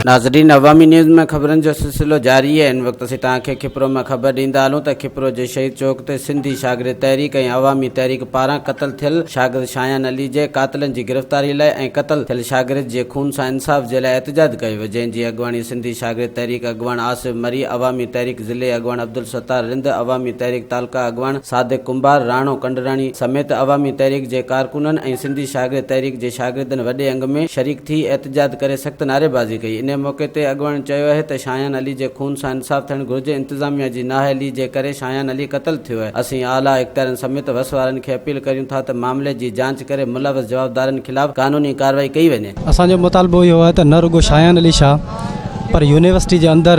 ناظرين عوامي نيوز ۾ خبرن جو سلسلو جاري آهي ان وقت اسين توهان کي کپرو ۾ خبر ڏيندا هلون ته کپرو جي شهيد چوڪ تي سنڌي شاگرد تحريڪ ۽ عوامي تحريڪ پاران قتل ٿيل شاگرد شايان علي جي قاتلن جي گرفتاري لاء ۽ قتل ٿيل شاگرد جي خون سان انصاف جي لاء احتجاج ڪيو ويو جنهن جي اڳواڻي سنڌي شاگرد تحريڪ اڳواڻ آصف مري عوامي تحريڪ ضلعي اڳواڻ عبدالستار رند، عوامي تحريڪ تعلقه اڳواڻ صادق ڪنڀار، راڻو ڪنڊراڻي سميت عوامي تحريڪ جي ڪارڪنن ۽ سنڌي شاگرد تحريڪ جي شاگردن وڏي انگ ۾ شريڪ ٿي احتجاج ڪري سخت نعريبازي ڪئي انهي موقعي تي اڳواڻن چيو اهي ته شايان علي جي خون سان انصاف ٿيڻ گهرجي انتظاميا جي نااهلي جي ڪري شايان علي قتل ٿيو اهي اسين اعليٰ اختيارين سميت وس وارن کي اپيل ڪريون ٿا ته معاملي جي جانچ ڪري ملوث جوابدارن خلاف قانوني ڪارروائي ڪئي وڃي. اسان جو مطالبو اهو آهي ته نه رڳو شايان علي شاهه پر يونيورسٽي جي اندر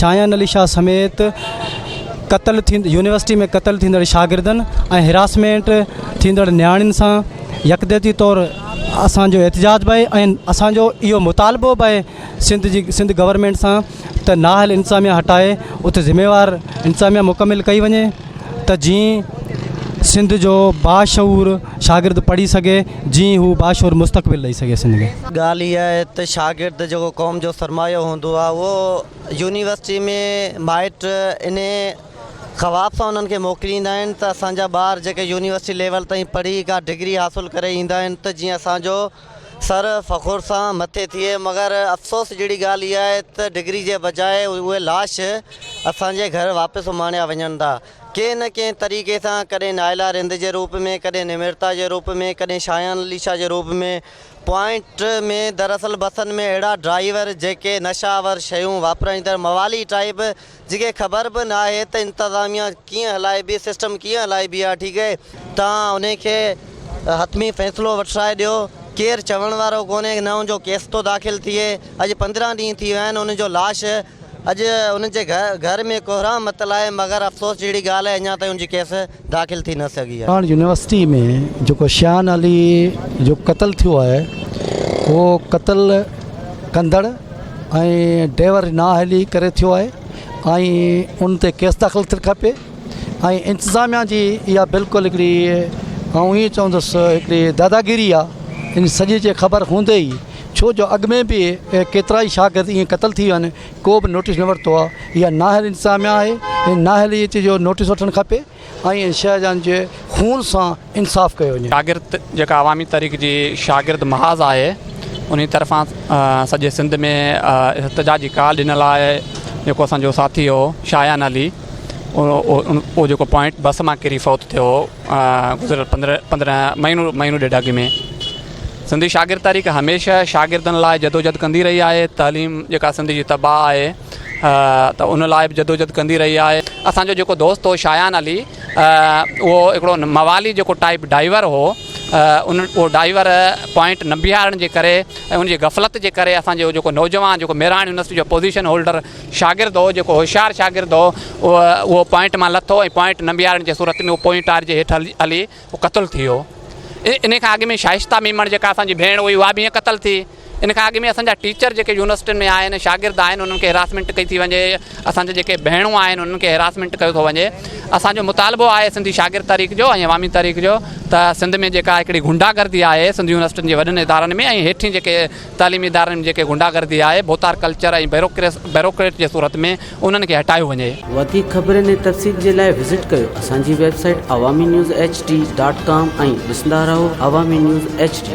شاهيان علي شاهه سميت قتل ٿيندڙ يونيورسٽي ۾ قتل ٿيندڙ شاگردن ۽ هراسمينٽ ٿيندڙ نياڻين سان يڪجهتي طور اسان جو احتجاج به آهي ۽ اسان جو اهو مطالبو به آهي سنڌ جي سنڌ گورنمينٽ سان ته نااهل انتظاميا هٽائي اتي ذميوار انتظاميا مڪمل ڪئي وڃي ته جيئن سنڌ جو باشعور شاگرد پڙهي سگهي جيئن هو باشعور مستقبل ڏئي سگهي سنڌ کي. ڳالهه اها آهي ته شاگرد جيڪو قوم جو سرمايو هوندو آهي اهو يونيورسٽي ۾ مائٽ انهي خواب سان انهن کي موڪليندا آهن ته اسان جا ٻار جيڪي يونيورسٽي ليول تائين پڙهي ڪا ڊگري حاصل ڪري ايندا آهن ته جيئن اسان جو سر فخر سان مٿي ٿئي مگر افسوس جهڙي ڳالهه اها آهي ته ڊگري جي بجاء اهي لاش اسان جي گهر واپس اماڻيا وڃن ٿا ڪنهن نه ڪنهن طريقي سان ڪڏهن نائلا رند جي روپ ۾ ڪڏهن نمرتا جي روپ ۾ ڪڏهن شايان عليشا جي روپ ۾ پوائنٽ ۾ دراصل بسن ۾ اهڙا ڊرائيور جيڪي نشا آور شيون واپرائيندڙ موالي ٽائيپ جنهن کي خبر به نه آهي ته انتظاميا ڪيئن هلائبي سسٽم ڪيئن هلائبي آهي ٺيڪ آهي توهان انهي کي حتمي فيصلو وٺرائي ڏيو ڪير چوڻ وارو ڪونهي نه ان جو ڪيس ٿو داخل ٿئي اڄ پندرهن ڏينهن ٿي ويا آهن ان جو لاش اڄ ان جي گهر ۾ ڪوهرام متل آهي مگر افسوس جهڙي ڳالهه آهي اڃا تائين ان جي ڪيس داخل ٿي نه سگهي آهي. ساڻ يونيورسٽي ۾ جيڪو شيان علي جو قتل ٿيو آهي اهو قتل ڪندڙ ۽ ڊيور نااهلي ڪري ٿيو آهي ۽ ان تي ڪيس داخل ٿيل کپي ۽ انتظاميا جي اها بلڪل هڪڙي آئون ائين چوندس هڪڙي داداگيري آهي ان سڄي جي خبر هوندي ئي ڇو جو اڳ ۾ به ڪيترائي شاگرد ائين قتل ٿي ويا آهن ڪو به نوٽيس نه ورتو آ اها نااهل انتظاميا آهي هي نااهل اچي جو نوٽيس وٺڻ کپي ۽ شاهه جان جي خون سان انصاف ڪيو وڃي. شاگرد جيڪا عوامي تحريڪ جي شاگرد محاذ آهي انهي طرفان سڄي سنڌ ۾ احتجاجي ڪال ڏنل آهي جيڪو اسان جو ساٿي هو شاهيان علي اهو جيڪو پوائنٽ بس مان ڪري فوت ٿيو هو گذريل پندرهن مهينو ڏيڍ اڳ ۾ سنڌي شاگرد تحريڪ هميشه شاگردن لاء جدوجھد ڪندي رهي آهي تعليم جيڪا سنڌ جي تباء آهي ته ان لاء به جدوجھد ڪندي رهي آهي اسانجو جيڪو دوست هو شايان علي اهو هڪڙو موالي جيڪو ٽائيپ ڊائيور هو ان اهو ڊائيور پوائنٽ نه بيهارڻ جي ڪري ۽ ان جي غفلت جي ڪري اسانجو جيڪو نوجوان جيڪو ميراڻ يونيورسٽي جو پوزيشن هولڊر شاگرد هو جيڪو هوشيار شاگرد هو اهو اهو پوائنٽ مان لٿو ۽ پوائنٽ نه بيهارڻ جي صورت ۾ اهو پوئنٽ ٽار جي هيٺ هلي هو قتل ٿي ويو. انهي کان اڳ ۾ شائسته ميمڻ جيڪا اسان جي ڀيڻ هئي اها به ائين قتل ٿي. ان کان اڳ ۾ اسان جا ٽيچر جيڪي يونيورسٽين ۾ آهن شاگرد آهن انهن کي هراسمينٽ ڪئي ٿي وڃي. اسان جا جيڪي ڀيڻون آهن انهن کي هراسمينٽ ڪيو ٿو وڃي. اسان جو مطالبو آهي سنڌي شاگرد تحريڪ جو ۽ عوامي تحريڪ جو ته سنڌ ۾ جيڪا هڪڙي غنڊا گردي آهي سنڌ يونيورسٽين جي وڏن ادارن ۾ ۽ هيٺين جيڪي تعليمي ادارن ۾ جيڪي غنڊا گردي آهي، ڀوتار ڪلچر ۽ بيروڪريٽ جي صورت ۾ انهن کي هٽايو وڃي. وڌيڪ خبرن ۽ تفصيل جي لاء وزٽ ڪيو اسان جي website Awami news H D dot com ۽ ڏسندا رهو عوامي نيوز ايڇ ڊي.